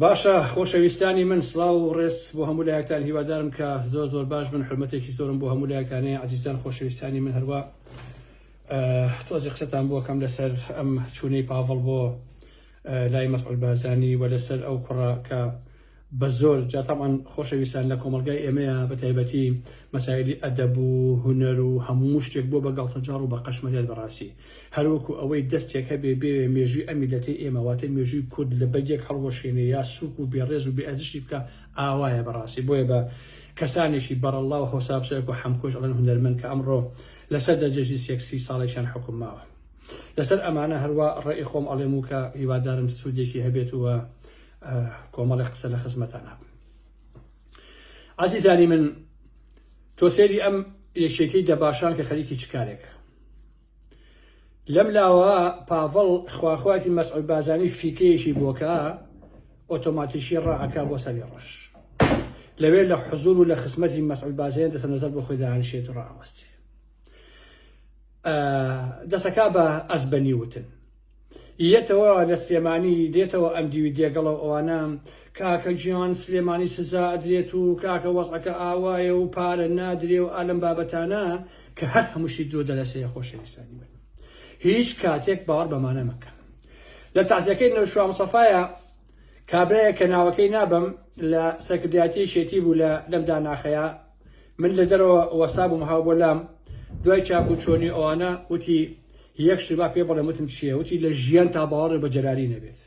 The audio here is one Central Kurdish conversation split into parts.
باشە خۆشەویستانی من سلااو و ڕێست بۆ هەموو لایەکتان هیوادارم کە زۆر زۆر باش من حرمەتێکی زۆرم بۆ هەموو لایەکانەیە عزیزان خۆشەویستانی من هەروە تۆزی قسەتان بۆکەم لەسەر ئەم چوونەی پاڤڵ بۆ لای مەسعود بازانی و لەسەر ئەو کوڕە کە بە زۆر جا تەبعەن خۆشەویستان لە کۆمەڵگای ئێمەیە بە تایبەتی مەسایلی ئەدەب و هونەر و هەموو شتێک بۆ بە گەڵتەجاڕ و بە قەشمەرێت بەڕاستی هەر وەکو ئەوەی دەستێک هەبێ بێوێ مێژووی ئەم میللەتەی ئێمە واتە مێژووی کورد لە بەگێک هەڵوەشێنێ یا سووک و بێڕێز و بێ ئەرزشی بکا ئاوایە بەڕاستی بۆیە بە کەسانێکی بەڕەڵڵا و هەوسا بچێ وەکو حەمکۆش ئەڵێن هونەرمەند کە ئەمڕۆ لەسەر دەرجەجی سێک سی ساڵێکیان حوکم ماوە لەسەر ئەمانە هەروا ڕێی خۆم ئەڵێم و کە هیوادارم سوودێکی هەبێت و کۆمەڵێک قسە لە خزمەتانە ئازیزانی من تۆ سێری ئەم یەکێتی دەباشان کە خەریکی چ کارێک لەم لاوە پاڤڵ خواخواتی مەسعود بازانی فیکەیەکی بۆکە ئۆتۆماتیکی ڕاعکا بۆ سەری ڕەش لەوێ لە حزور و لە خزمەتی مەسعود بازێن دەسە نەزەر بۆ خۆی داهانشێت ڕاوەستی دەسەکا بە ئەزبەنی وتن یەتەوە لە سلێمانی دێتەوە ئەم دیوی دێگەڵە و ئەوانە کاکە گیان سلێمانی سزا ئەدرێت و کاکە وەزعەکە ئاوایە و پارە نادرێ و ئالەم بابەتانە کە هەر هەمووشی درۆ دەلەسەیە خۆشەویستانی من هیچ کاتێک باوەڕ بەمانە مەکە لە تازیەکەی نەوشوا مسەفاە کابرایە کە ناوەکەی نابم لە سەرکردایەتی شێتی بوو لە لەم داناخەیە من لە دەرەوە وەسابم هاو بۆ لام دوای چاک و چۆنی ئەوانە وتی یەک شتبا پێ بڵێ وتم چییە وتی لە ژیان تا باوەڕێ بە جەراری نەبێت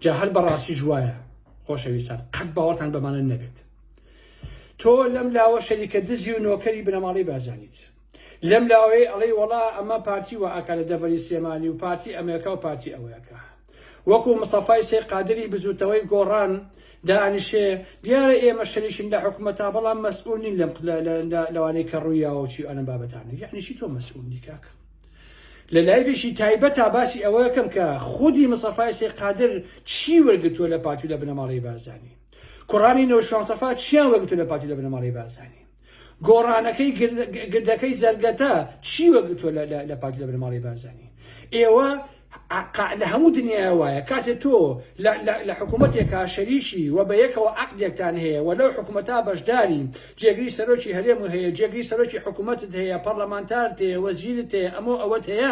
جا هەر بەڕاستی ژوایە خۆشەویستان قەت باوەڕتان بەمانە نەبێت تۆ لەم لاوە شەریکە دزی و نۆکەری بنەماڵی بازانیت لەم لاوەیە ئەڵەی وەڵا ئەمە پارتی و ئاکارە دەڤەری سێمانی و پارتی ئەمریکا و پارتی ئەوەکە وەکو مصەفای سەی قادری بزوتەوەی گۆڕان دانشێ دیارە ئێمە شەریکین لە حکومەتا بەڵام مەسئول نین لەم لەوانەی کە ڕویاوە چی ئەنە بابەتانە یعنی چی تۆ مەسئول نی کاک لە لایفێکی تایبەتا باسی ئەوە یەکەم کە خودی مصەفای سەی قادر چی وەرگتووە لە پارتی لە بنەماڵەی بارزانی کوڕانی نەوشان سەفا چیان وەرگتووە لە پارتی لە بنەماڵەی بارزانی گۆڕانەکەی گردەکەی زەرگەتە چی وەگرتووە لە پارتی لە بنەماڵەی بارزانی ئێوە لە هەموو دنیای وایە کاتێ تۆ لە حکوومەتێکا شەریکی و بە یەکەوە عقدێکتان هەیە و لەو حکوومەتا بەشداری جێگری سەرۆکی هەرێم و هەیە جێگری سەرۆکی حکوومەتت هەیە پەرلەمانتارت هەیە وەزیرت هەیە ئەمە ئەوەت هەیە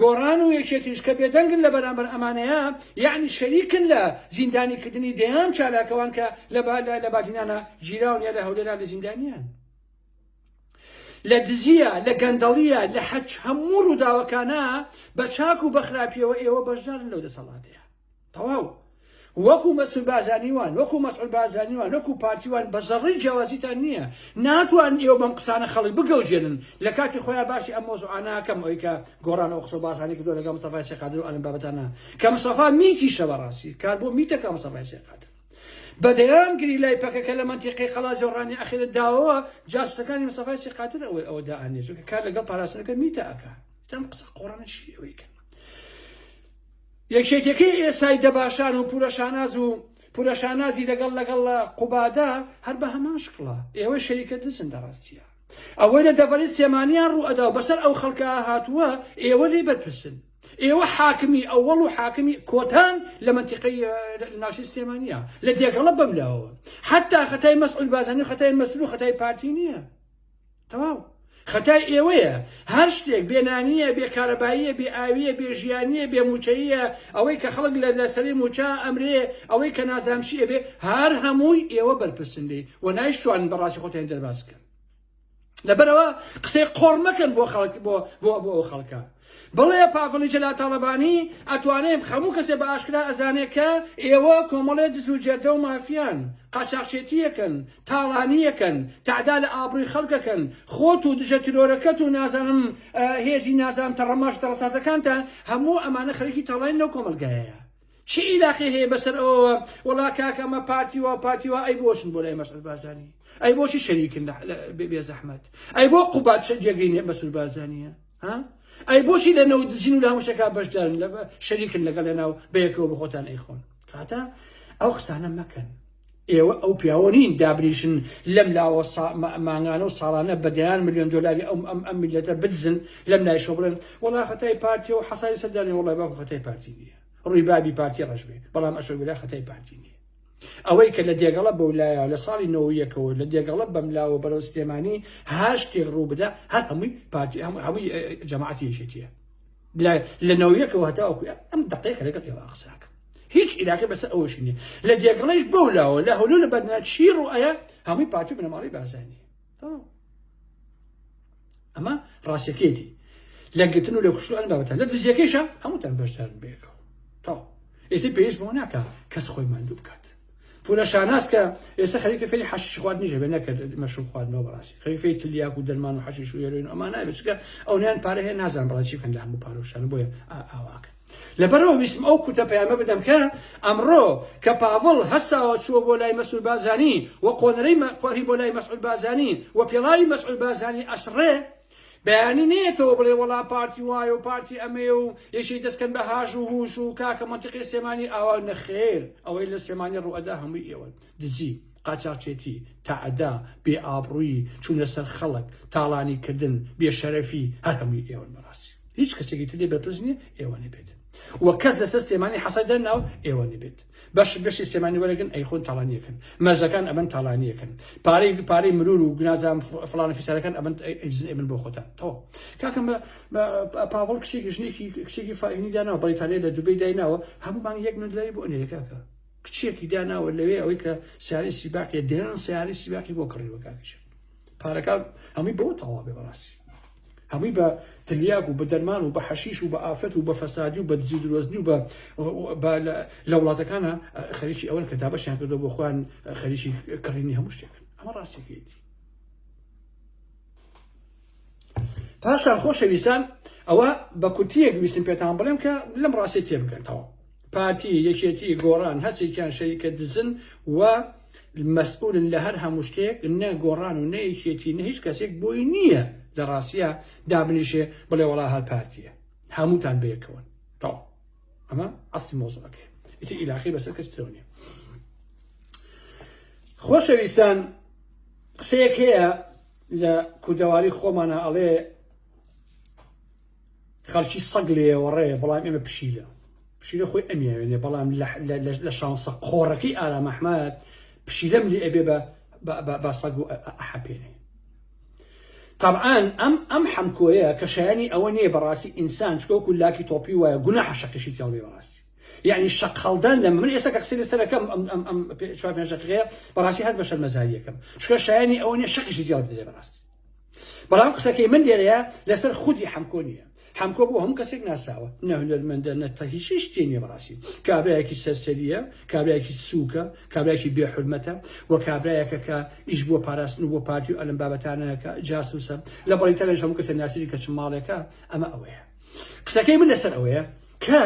گۆڕان و یەکێتیش کە بێدەنگن لە بەرامبەر ئەمانەیا یەعنی شەریکن لە زیندانی کردنی دەیان چالاکەوان کە لە لە بادینانا گیراون یا لە هەولێرا لە زیندانیان لە دزیە لە گەندەڵیە لە حەچ هەموو ڕووداوەکانە بە چاک و بەخراپیەوە ئێوە بەشدارن لەو دەسەڵاتەیە تەواو وەکو مەسول بازانی وان وەکو مەسعود بازانی وان وەکو پارتی وان بە زەڕی جیاوازیتان نییە ناتوان ئێوە بەم قسانە خەڵک بگەوجێنن لە کاتی خۆیان باسی ئەم مۆزوعاناکەم ئەوی کە گۆڕان ئەو قسە باسانی کردو لەگەڵ مستەفای سێقادر و ئەلم بابەتانە کە مستەفا میتیشە بەڕاستی کار بۆ میتەکە مستەفای سێقادر بەدەیان گری لای پەکەکە لە منتیقی قەڵاجە و ڕانی ئەخیرە داوەوە جاسوسەکانی مستەفای سێقادر ئەوەی ئەوە دائانێ چونکە کار لەگەڵ پاراستنەکە میتە ئەکا تەم قسە قۆڕانە چی ئەوەی کە یەکێتیەکەی ئێستای دەباشان و پورە شاناز و پورە شانازی لەگەڵ لەگەڵ قوبادا هەر بە هەمان شکڵە ئێوەی شەریکە دزن لە ڕاستیە ئەوەی لە دەڤەری سێمانیان ڕوو ئەدا و بەسەر ئەو خەڵکە هاتووە ئێوە لێ بەرپرسن ئێوە حاکمی ئەوەڵ و حاکمی کۆتان لە منتیقەی ناشی سلێمانە لە دێگەڵە بەم لاوە حتا خەتای مەسعود بازانی خەتای مەسرو خەتای پارتی نییە تەواو خەتای ئێوەیە هەر شتێک بێ نانیە بێ کارەباییە بێ ئاویە بێ ژیانیە بێ موچەیە ئەوەی کە خەڵک لە لەسەری موچە ئەمرێ ئەوەی کە نازانشیە بێ هەر هەمووی ئێوە بەرپرسن لێ و نایشتوان بەڕاستی خۆتیان دەرباز بکەن لەبەرەوە قسەی قۆڕ مەکەن بۆ خەڵک بۆ بۆ بۆ خەڵکە بڵێ پاڤڵی جەلال تاڵەبانی ئەتوانێ خەموو کەسێ بە ئاشکرا ئەزانێ کە ئێوە کۆمەڵێ دز و جەردە و مافیان قاچاخچێتیەکەن تاڵانیەکەن تەعدا لە ئابڕوی خەڵکەکەن خۆت و دژە ترۆرەکەت و نازانم هێزی نازانم تەڕەماش تەڕەسازەکانتان هەموو ئەمانە خەریکی تاڵانین لەو کۆمەڵگایەیە چی ئیلاقی هەیە بەسەر ئەوەوە وەڵا کاکە ئەمە پارتی و پارتی و ئەی بۆچن بۆ لای مەسعود بارزانی ئەی بۆچی شەریکن بێ زەحمەت ئەی بۆ قوبات جێگەی نیە مەسعود بارزانیە ئەی بۆچی لە نەوت دزین و لە هەموو شەکە بەشدارن لە شەریکن لەگەڵ لە ناو بەیەکەوە بەخۆتان ئەیخۆن کاتە ئەو قسانە مەکەن ئێوە ئەو پیاوە نین دابریشن لەم لاوە مانگانە و ساڵانە بەدەیان میلیۆن دلاری ئەم ئەم ئەم میلەتە بدزن لەم لای شۆ بڵێن وڵا خەتای پارتی و حەسای سەردانی وڵای باکو خەتای پارتی نییە ڕووی بابی پارتی ڕژبێ بەڵام ئەشۆ بلا خەتای پارتی نییە ئەوەی کە لە دێگەڵە بەو لایە لە ساڵی نەوەو یەکەوە لە دێگەڵە بەم لاوە بەرەو سلێمانی هەر شتێک ڕوو بدە هەر هەمووی پارتی هەموو هەمووی جەماعەتی یەکێتیە لە نەوەیەکەوە هەتاوەکو ئەم دقەیەکە لەگەڵ ئێوە قساکە هیچ عیلاقی بەسەر ئەوەشی نیە لە دێگەڵەش بەو لاوە لە هەولو لە بەرنا چی ڕوئەیە هەمووی پارتی بنەماڵی بازانی ئەمە ڕاستەکێتی لە گرتن و لە کوشت ئەم بابەتە لە دزیەکەیشە هەمووتان بەشدارن بێکەوە تا ئێتی پێویست بۆ ناکە کەس خۆی ماندوو بکات پولە شاناس کە ئێستا خەریکە فێری حەشیش خوارد نیژە بێ نەکرد مەشروب خواردنەوە بەڕاستی خەری فێری تلیاک و دەرمان و حەشیش و هێرۆین ئەمانای بچکە ئەو نیان پارە هەیە نازان بەڕاستی بکەن لە هەموو پارۆشان بۆیە ئاواکەن لەبەرئەوە ویستم ئەو کورتە پەیامە بدەم کە ئەمڕۆ کە پاڤڵ هەستاوە چووە بۆ لای مەسرور بارزانی و قۆنەرەی مە قۆهی بۆ لای مەسعود بارزانی و پێڵاوی مەسعود بارزانی ئەسڕێ بەیانی نەیەتەوە بڵێ وەڵا پارتی وایە و پارتی ئەمەیە و یەکێی دەستکەن بە هاژ و هوش و کاکە مەنتیقی سێمانی ئاوا نەخێر ئەوەی لە سێمانی ڕوئەدا هەمووی ئێوەن دزی، قاچاخچێتی، تەعدا، بێ ئابڕوویی، چوونە سەر خەڵک، تاڵانی کردن، بێ شەرەفی، هەر هەمووی ئێوەن بەڕاستی. هیچ کەسێکی تر لێ بەرپرس نییە ئێوە نەبێت و کەس لەسەر سلێمانی حەسای دەر ناوە ئێوە نەبێت. بەش بەشی سلێمانی وەرەگرن ئەیخۆن تاڵانیەکەن. مەرزەکان ئەبەن تاڵانیەکەن. پارەی پارەی مرور و نازام فڵانە فیسارەکان ئەبەن ئەیدزن ئەبن بۆ خۆتان. تەوا. کاکە مە پاڤڵ کچێکی ژنێکی کچێکی فاهینی داناوە بەڕیتانیا لە دوبەی دایناوە هەموو مانگ یەک ملیۆن دلاری بۆ ئەنێرێ کاکە. کچێکی داناوە لەوێ ئەوەی کە سیارەی سیباقیە دەیان سیارەی سیباقی بۆ کڕیوە کاکیشە پارەکە هەمووی بەوە تەواو بێ بەڕاستی هەمووی بە تلیاک و بە دەرمان و بە حەشیش و بە ئافرەت و بە فەسادی و بە دزی درۆزنی و بە لە وڵاتەکانە خەریکی ئەوەن کە دابەشیان کردو بۆ خۆیان خەریکی کڕینی هەموو شتێکن ئەمە ڕاستێکیتی پاشان خۆشەویستان ئەوە بە کورتیەک ویستم پێتان بڵێم کە لەم ڕاستی تێبگەنەوە پارتی یەکێتی گۆڕان هەسێکیان شەریکە دزن و مەسئولن لە هەر هەموو شتێک نە گۆڕان و نەیەکێتی نە هیچ کەسێک بۆی نییە لە ڕاستە دابنیشێ بڵێ وڵا هەر پارتیە هەمووتان بەیەکەوەن تاو ئەمە ئەستی مۆزەکە ئیتی ئیلاخی بەسەر کەس ترەوە نیە خۆشەویستان قسەیەک هەیە لە کوردەواری خۆمانە ئەڵێ خەڵکی سەگ لێوەڕێ بەڵام ئێمە پشیلە پشیلە خۆی ئەمیاوێنێ بەڵام لە شانسە قۆڕەکەی ئارام ئەحمد پشیلەم لێ ئەبێ بە سەگ و ئەحەپێنێ طبعاان ئەم ئەم حەمکۆیە کە شایانی ئەوە نییە بەڕاستی ئینسان چکۆک و لاکی تۆپی وایە گونا حەشەکەشی تێڵێ بەڕاستی یەعنی شەق هەڵدان لەمە من ئێستا کە قسەی لەسەر دەکەم ئەم ئەم ئەم پێ چوار پێنج دەقیقەیە بەڕاستی هەست بە شەرمەزاری یەکەم چونکە شایەنی ئەوە نیە شەقیشی جیاو دەدرێ بەڕاستی بەڵام قسەکەی من لێرەیە لەسەر خودی حەمکۆ نییە حەمکۆ بۆ هەموو کەسێک ناساوە نە هونەرمەندە نە تە هیچ هیچ تێ نیە بەڕاستی کابرایەکی سەرسەریە کابرایەکی سووکە کابرایەکی بێ حورمەتە و کابرایەکە کە ئیش بۆ پاراستن و بۆ پارتی و ئەلم بابەتانەکە جاسوسە لە بەڵی تەلەش هەموو کەسە ناسیری کە چ ماڵێکە ئەمە ئەوەیە قسەکەی من لەسەر ئەوەیە کە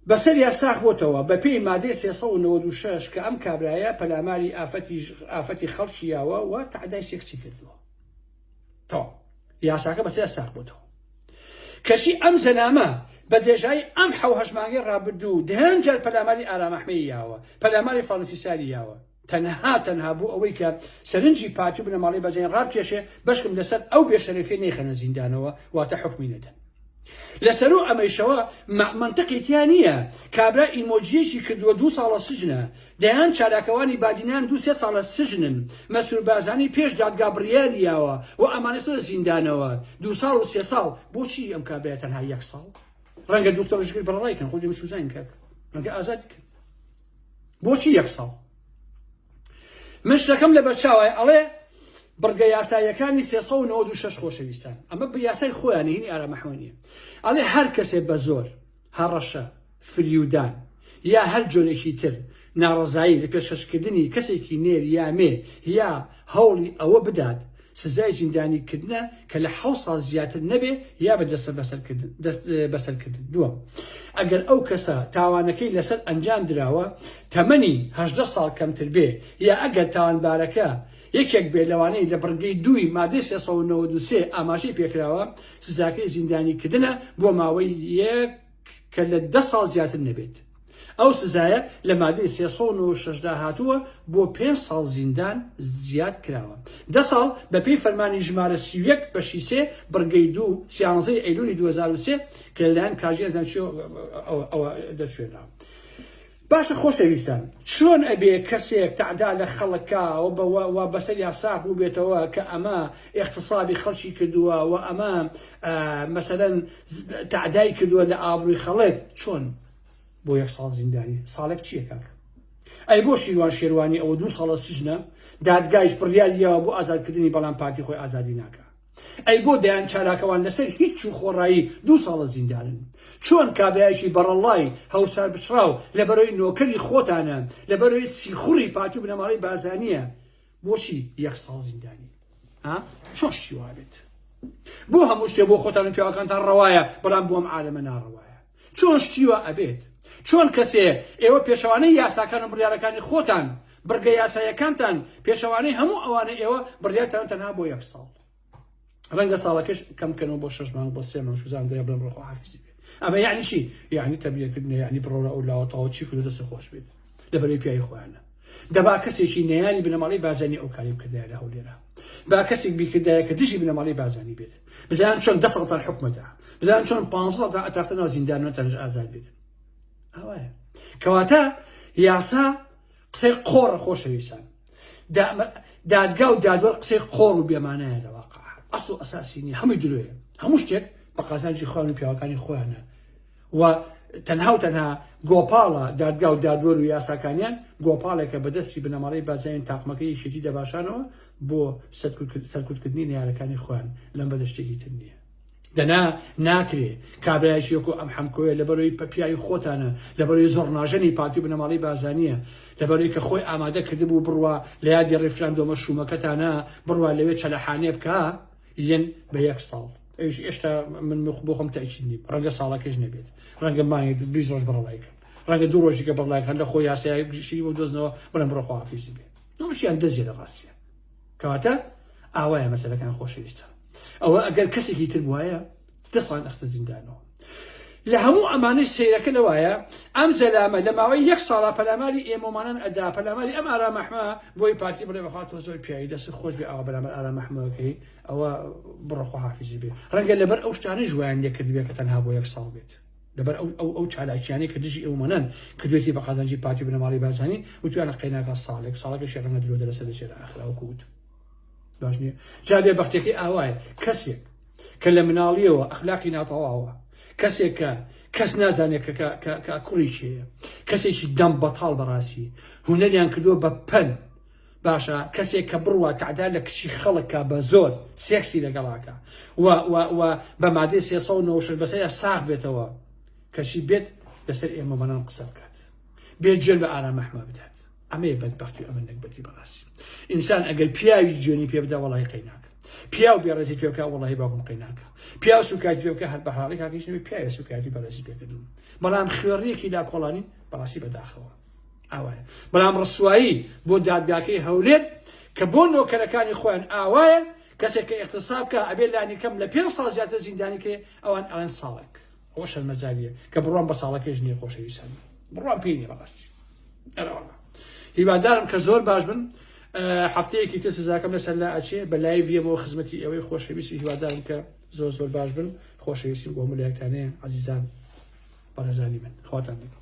بەسەر یا ساخ بۆتەوە بە پێی مادەی سێ سەد و نەوەد و شەش کە ئەم کابرایە پەلاماری ئافەتی ئافەتی خەڵکی یاوە و تعدای سێکسی کردووە تەواو یاساکە بەسەر ساخ بۆتەوە کەچی ئەم زەنامە بە دێژایی ئەم حەو هەشمانگەی ڕابردوو دهێن جار پەلاماری ئارامەحمەی یاوە پەلاماری فەڵەنفیساری یاوە تەنها تەنها بۆ ئەوەی کە سەرنجی پارتی و بنەماڵەی بەرزانی ڕابکێشێ، بەشکم لەسەر ئەو بێشەرەفیە نەیخەنە زیندانەوە، واتە حوکمی نەدەن. لەسەروو ئەمەیشەوە مە مەنتقی تیا نییە، کابرا ئیمۆجییەکی کردووە دوو ساڵە سجنە، دەیان چالاکەوانی بادینان دوو سێ ساڵە سجنن، مەسرور بارزانی پێش دادگا بڕیاری یاوە و ئەمانە چنە زیندانەوە دوو ساڵ و سێ ساڵ، بۆچی ئەم کابرایە تەنها یەک ساڵ؟ ڕەنگە دوکتۆر ژگر بەڕەڕای کەن، خۆ دەمشوزاین کاکە، ڕەنگە ئازادی کەن. بۆچی یەک ساڵ؟ من شتەکەم لەبەرچاوە ئەڵێ بڕگە یاساییەکانی سێ سەد و نەوەد و شەش خۆشەویستان ئەمە بە یاسای خۆیانی هینی ئارامەحمەنیە ئەڵێ هەر کەسێ بە زۆر هەڕەشە فریودان یا هەر جۆرێکی تر ناڕەزایی لە پێشکەشکردنی کەسێکی نێر یا مێ یا هەوڵی ئەوە بدات سزای زیندانی کردنە کە لە حەوت ساڵ زیاتر نەبێ یا بە دەسبەسەرکردن دەست بەسەرکردن. دووەم، ئەگەر ئەو کەسە تاوانەکەی لەسەر ئەنجام دراوە تەمەنی هەژدە ساڵ کەمتر بێ یا ئەگەر تاوانبارەکە یەکێک بێ لەوانەی لە بڕگەی دووی مادەی سێ سەد و نەوەد و سێ ئاماژەی پێکراوە، سزاکەی زیندانی کردنە بۆ ماوەی یەک کە لە دە ساڵ زیاتر نەبێت. ئەو سزایە لە مادەی سێ سەد و نەوەد و شەش دا هاتووە بۆ پێنج ساڵ زیندان زیاد کراوە. دە ساڵ بەپێی فەرمانی ژمارە سی و یەک بەشی سێ بڕگەی دوو سیانزەی ئەیلوولی دوو هەزار و سێ کە لەلایەن کاژی ئەزەنچیۆ ەوە دەرچوێنراوە. باشە خۆشەویستان چۆن ئەبێ کەسێک تەعدا لە خەڵک کا و بە وە بەسەریا ساغ بوبێتەوە کە ئەمە ئیغتسابی خەڵکی کردوە و ئەمە مەسەلەن تەعدای کردوە لە ئابڕوی خەڵک چۆن بۆ یەک ساڵ زیندانی ساڵێک چیە کاکە ئەی بۆ شیروان شێروانی ئەوە دوو ساڵە سجنە دادگایش بڕیاریەوە بۆ ئازادکردنی بەڵام پارتی خۆی ئازادی ناکا. ئەی بۆ دەیان چالاکەوان لەسەر هیچ و خۆڕایی دوو ساڵە زیندانن؟ چۆن کابرایەکی بەڕەڵڵای هەوسارپچڕاو لەبەرەی نۆکەری خۆتانە، لەبەرەی سیخوڕی پارتی و بنەماڵەی بارزانییە بۆچی یەک ساڵ زیندانی؟ ها؟ چۆن شتی وا بێت؟ بۆ هەموو شتێ بۆ خۆتان و پیاوەکانتان ڕەوایە، بەڵام بۆ ئەم عالەمە ناڕەوایە؟ چۆن شتی وا ئەبێت؟ چۆن کەسێ ئێوە پێشەوانەی یاساکان و بڕیارەکانی خۆتان، بڕگە یاساییەکانتان پێشەوانەی هەموو ئەوانە ئێوە بڕیارتانە تەنها بۆ یەک ساڵ ڕەنگە ساڵەکەش کەم بکەنەوە بۆ شەش مانگ بۆ سێ مانگ شوزان دەیە بڵێن ڕۆخواحافیزی بێت ئەمە یعنی چی یعنی تەبلیغ کردنە یعنی بڕۆرە ئەو لاوە تەواو چی کردو دەست خۆش بێت لە بەرەی پیاوی خۆیانە دەبا کەسێکی نەیاری بنەماڵەی بارزانی ئەو کاری بکردایە لە هەولێرە با کەسێک بیکردایە کە دژی بنەماڵەی بارزانی بێت بزان چۆن دە ساڵتان حکومەتە بزان چۆن پ ساڵتان ئەتافتە ناو زیندانەتەنج ئازاد بێت ئەوەیە کەواتە یاسا قسەی قۆڕە خۆشەویستان دادگا و دادوەر قسەی قۆڕ و بێمانایە لە واقع ئەسڵ ئەساسی نیە هەمووی درۆیە هەموو شتێک بە قازانجی خوان و پیاوەکانی خۆیانە و تەنها و تەنها گۆپاڵە دادگا و دادوەر و یاساکانیان گۆپاڵێکە بەدەستی بنەماڵەی بازیانی تاقمەکە یەکێتی دەباشانەوە بۆ سەرکوتکردنی نەیارەکانی خۆیان لەم بەدەشتێکی تر نییە دەنا ناکرێ کابراایشی وەکو ئەم حەمکۆیە لە بەرەوەی پەپیایی خۆتانە لە بەرەوەی زۆرناژەنی پارتی و بنەماڵی بازانیە لە بەرەوەی کە خۆی ئامادە کردبوو بڕوا لە یادی ڕیفراندۆمە شوومەکەتانە بڕوا لەوێ چەلەحانێ بکە ین بە یەک ساڵ ئەویش ئێشتا من مخ بۆ خۆم تاکید نیم ڕەنگە ساڵەکەش نەبێت ڕەنگە مانگێک بیست ڕۆژ بڕەڵای کرد ڕەنگە دوو ڕۆژیکە بڕڵای هەر لە خۆ یاسای گشتی بۆ دۆزنەوە بڵێم بڕە خۆحافیزی بێ نوشیان دەزیێ لە ڕاستە کەواتە ئاوایە مەسەلەکان خۆشەویستە ئەوە ئەگەر کەسێکی تر وایە دەستان ئەخسە زیندانەوە. لە هەموو ئەمانەی سەیرەکە لەوایە ئەم زەلامە لە ماوەی یەک ساڵا پەلاماری ئێمۆمانان ئەدا پەلاماری ئەم ئارامەحمە بۆی پارتی بڵێ بەخوا تۆ زۆر پیاوی دەست خۆش بێ ئاوا بەرامبەر ئارامەحمەکەی ئەوە بڕخوا حافزی بێ ڕەنگە لەبەر ئەو شتانە ژویان لێکرد بێ کە تەنها بۆ یەک ساڵ بێت لەبەر ئەو ئەو ئەو چالاکیانەی کە دژی ئێومانان کە دوێتی بە قازانجی پارتی بنەماڵی بازانی وتویانە قەیناکە ساڵێک ساڵەکە شێڕەنگە درۆ دەرەسە دەچێت ئاخراوکوت باش نییە جا بێ بەختەکەی ئاوایە کەسێک کە لە مناڵیەوە ئەخلاقی ناتەواوە کەسێک کە کەس نازانێت کە کوڕی چێە کەسێکی دەم بەتاڵ بەڕاستی هوەریان کردووە بە پەن باشە کەسێک کە بڕوا تعدا لە کچی خەڵکە بە زۆر سێکسی لەگەڵاکە بە مادەی سێ بەسەر ساغ بێتەوە کەشی بێت لەسەر ئێمە بەنان قسە بکات بێ جێ بە ئارامەحمە بدات ئەمەیە بەدبەختی و ئەمە نەگبەتی بەڕاستی ئینسان ئەگەر پیاوی جوێنی پێ بدا وەڵی قەیناکە پیاو بێڕێزی پێ بکە وەڵی باوکم قەیناکە پیاو سوکایتی پێ بکە هەر بە حاڵی کاکەش نەبێ پیاوە سوکایتی بەڕێزی پێکردوم بەڵام خوێڕیەکی لا کۆڵانی بەڕاستی بەداخەوە ئاوایە بەڵام ڕسوایی بۆ دادگاکەی هەولێت کە بۆ نۆکەرەکانی خۆیان ئاوایە کەسێک کە اقتصاب کە ئەبێ لانی کەم لە پێ ساڵ زیاتر زیندانی کرێ ئەوان ئەڵێن ساڵێک ئەوە شەرمەزاریە کە بڕوام بە ساڵەکەی ژنی خۆشەویستان بڕوام پێی نیە بەڕاستی ئەرەوەڵا هیوادارم کە زۆر باش بن هەفتەیەکی تر سزاکەم لەسەر لا ئەچێ بە لای بێمەوە خزمەتی ئەوەی خۆشەویستی هیوادارم کە زۆر زۆر باش بن خۆشەویستی بۆ ملایەکانەیە عزیزان بەڕێزانی من خواتان دەکەم